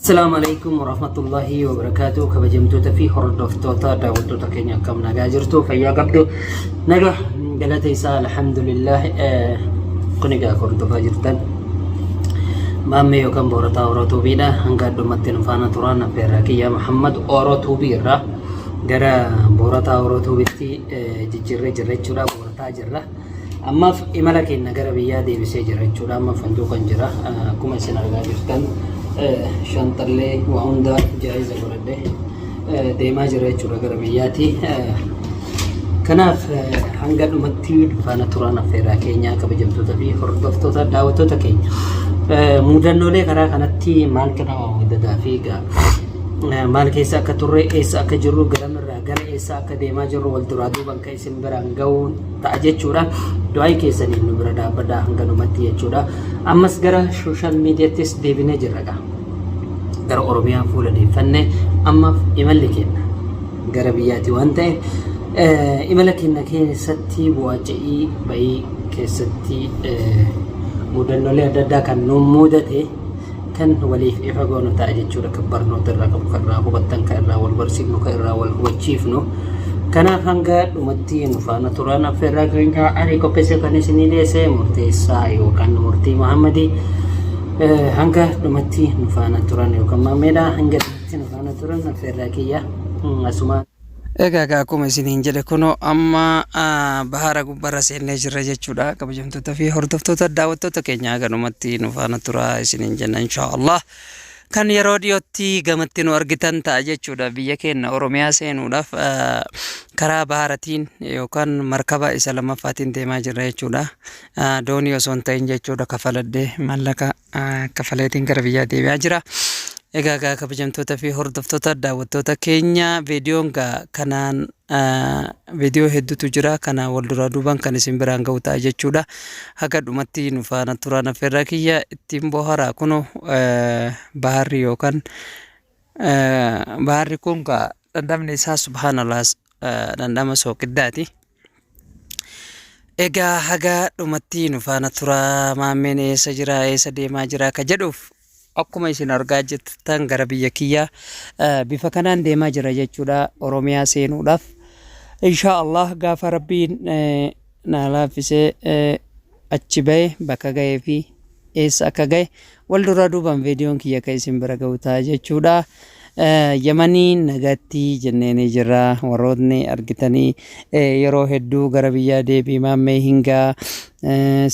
Assalamu alaikum warahmatullahi wabarakatuh kabajamtoota fi hordoftoota daawwattoota keenya akkam nagaa jirtu fayyaa qabdu naga galata isaa alhamdulillah eh, kun egaa akka hordofaa jirtan maammee yookaan boorataa oroo tuubiidha hanga addumatti nu faana turaan abbeerraa kiyyaa muhammad oroo tuubii irraa gara boorataa oroo tuubitti eh, jijjiirree jirra jechuudha boorataa jirra Ammaaf imala keenna gara biyyaa deebisee jira jechuudha. Amma fanduuqan jira. Akkuma isin argaa jirtan shanxallee waa hundaa jaayiza godhadhe deemaa jira jechuudha gara biyyaati. Kanaaf hanga dhumatti faana turaan affeeraa keenya kabajamtoota fi hordoftoota daawwattoota keenya. Mudannoolee karaa kanatti maaltu nama mudataa fi maal keessa akka turre eessa akka jirru garamirraa gara eessa akka deemaa jirru wal duraa duuban isin biraan ga'uu ta'a jechuudha. Du'aayi keessaniin nu bira dhaabbadha hanganumatti jechuudha. Ammas gara sooshaal miidiyaattis deebinee jirra gaa. Gara Oromiyaa fuula deeffannee ammaaf imalli keenya gara biyyaati waan ta'e imala keenya keessatti bu'aaca'ii ba'ii keessatti mudannoolee adda addaa kan nu mudate Kan waliif ifa goonu ta'a jechuudha. Kan barnoota irraa qabu, kan irraa hubattan, kan irraa wal barsiifnu, kan irraa wal hubachiifnu. Kanaaf hanga dhumatti nu faana turan affeerraa keenya ani qopheessee kan isinii dhiyeesse murteessaa yookaan murtii Muhammadii hanga dhumatti nu faana turan yookaan maammeedha hanga dhumatti nu faana turan affeerraa kiyya asuma. Egaa egaa akkuma isiniin jedhe kunoo amma bahaara gubbarra seennee jirra jechuudha kabajamtoota fi hordoftoota daawwattoota keenya haganumatti nu faana turaa isiniin jenna inshaa Allah kan yeroo dhiyootti gamatti nu argitan ta'a jechuudha biyya keenya Oromiyaa seenuudhaaf karaa bahaaratiin yookaan markaba isa lammaffaatiin deemaa jirra jechuudha doonii osoo hin ta'in jechuudha kafaladhee mallaqa kafaleetiin gara biyyaa deebi'aa jira. Egaa gaa kabajamtoota fi hordoftoota daawwattoota keenya viidiyoon gaa kanaan viidiyoo hedduutu jira kana wal duraa duubaan kan isin biraan ga'u ta'a jechuudha. Haga dhumatti nu faana turaan affeerraa kiyya ittiin boharaa kunu baharri yookaan baharri kun gaa dhandhamni isaa subhaanallah dhandhama sooqiddaati. Egaa haga dhumatti nu faana turaa maammeen eessa jira eessa deemaa jira ka jedhuuf akkuma isin argaa jirtan gara biyya kiyyaa eh, bifa kanaan deemaa jira jechuudha Oromiyaa seenuudhaaf. Inshaa Allah gaafa rabbiin eh, na laaffisee eh, achi bahe bakka gahee fi eessa akka gahe wal duraa duubaan viidiyoon kiyya akka isin bira gahu ta'a jechuudha. Yamanii nagatti jenneenii jirra warrootni argitanii yeroo hedduu gara biyyaa deebii maammee hingaa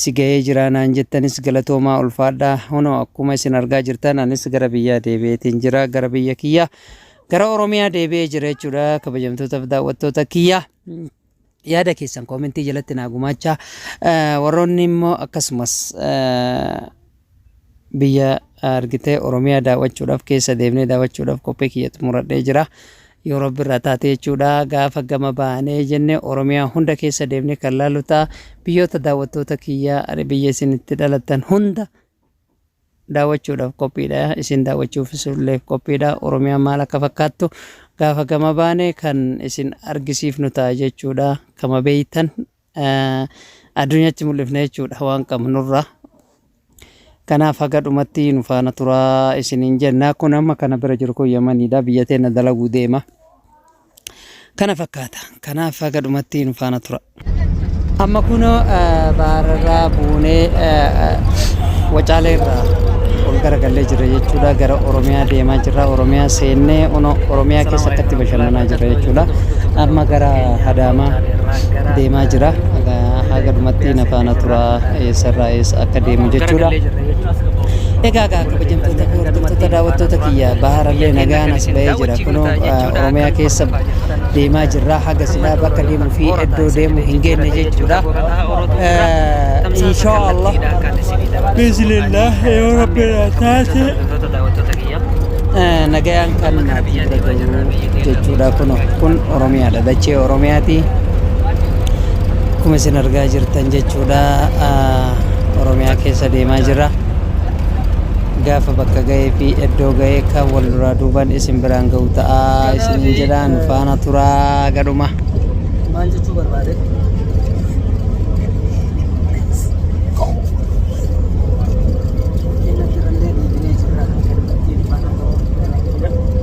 si gahee jira naan jettanis galatoomaa ulfaadha hunoo akkuma isin argaa jirtan anis gara biyyaa deebi'eetiin jira gara biyya kiyya gara oromiyaa deebi'ee jira jechuudha kabajamtootaaf daawwattoota kiyya Yaada keessan koomentii jalatti naa gumaachaa. Warroonni immoo akkasumas biyya argitee Oromiyaa daawwachuudhaaf keessa deemnee daawwachuudhaaf qophii kiyya xumuradhee jira. Yoo rabbi irraa taate jechuudha gaafa gama baanee jenne Oromiyaa hunda keessa deemnee kan laalu ta'a. Biyyoota daawwattoota kiyya biyya isin itti dhalattan hunda daawwachuudhaaf qophiidha. Isin daawwachuufis illee qophiidha. Oromiyaan maal akka fakkaattu gaafa gama baane kan isin argisiifnu ta'a jechuudha. Kama beeytan addunyaatti mul'ifne jechuudha waan qabnurra. Kanaaf haga dhumatti nu faana turaa isiniin jenna. Kun amma kana bira jiru kun Yamaniidha. Biyya teenya dalaguu deema. kana fakkaata kanaaf haga dhumatti nu faana tura. Amma kunoo eh, bahararraa buunee eh, eh, wacaalee irraa ol garagallee jirra jechuudha gara Oromiyaa deemaa jirra Oromiyaa seennee ono Oromiyaa keessa akkatti bashannanaa jirra jechuudha amma gara Adaamaa deemaa jira Haga- haga dhumatti na faana tura eessarraa eessa akka deemu jechuudha. Egaa egaa kabajamtoota hordoftoota daawwattoota kiyya baharallee nagaan as ba'ee jira. Kunoo Oromiyaa keessa deemaa jirra. Haga silaa bakka deemuu fi iddoo deemu hin geenne jechuudha. Inshaa Allah. Bismillah. Yoo Rabbi na taate. Nagayaan kan maatii bira gahu jechuudha. Kunoo kun Oromiyaadha. Dachee Oromiyaati. Akkuma isin argaa jirtan jechuudha. Oromiyaa keessa deemaa jirra. Gaafa bakka gahee fi eddoo gahee kan wal duraa duuban isin biraan gahu ta'a isiniin jedha nu faana turaa haga dhuma. Maal jechuu barbaade? Kenna jirallee dhiibinee jirra. Ittiin faana ta'uu.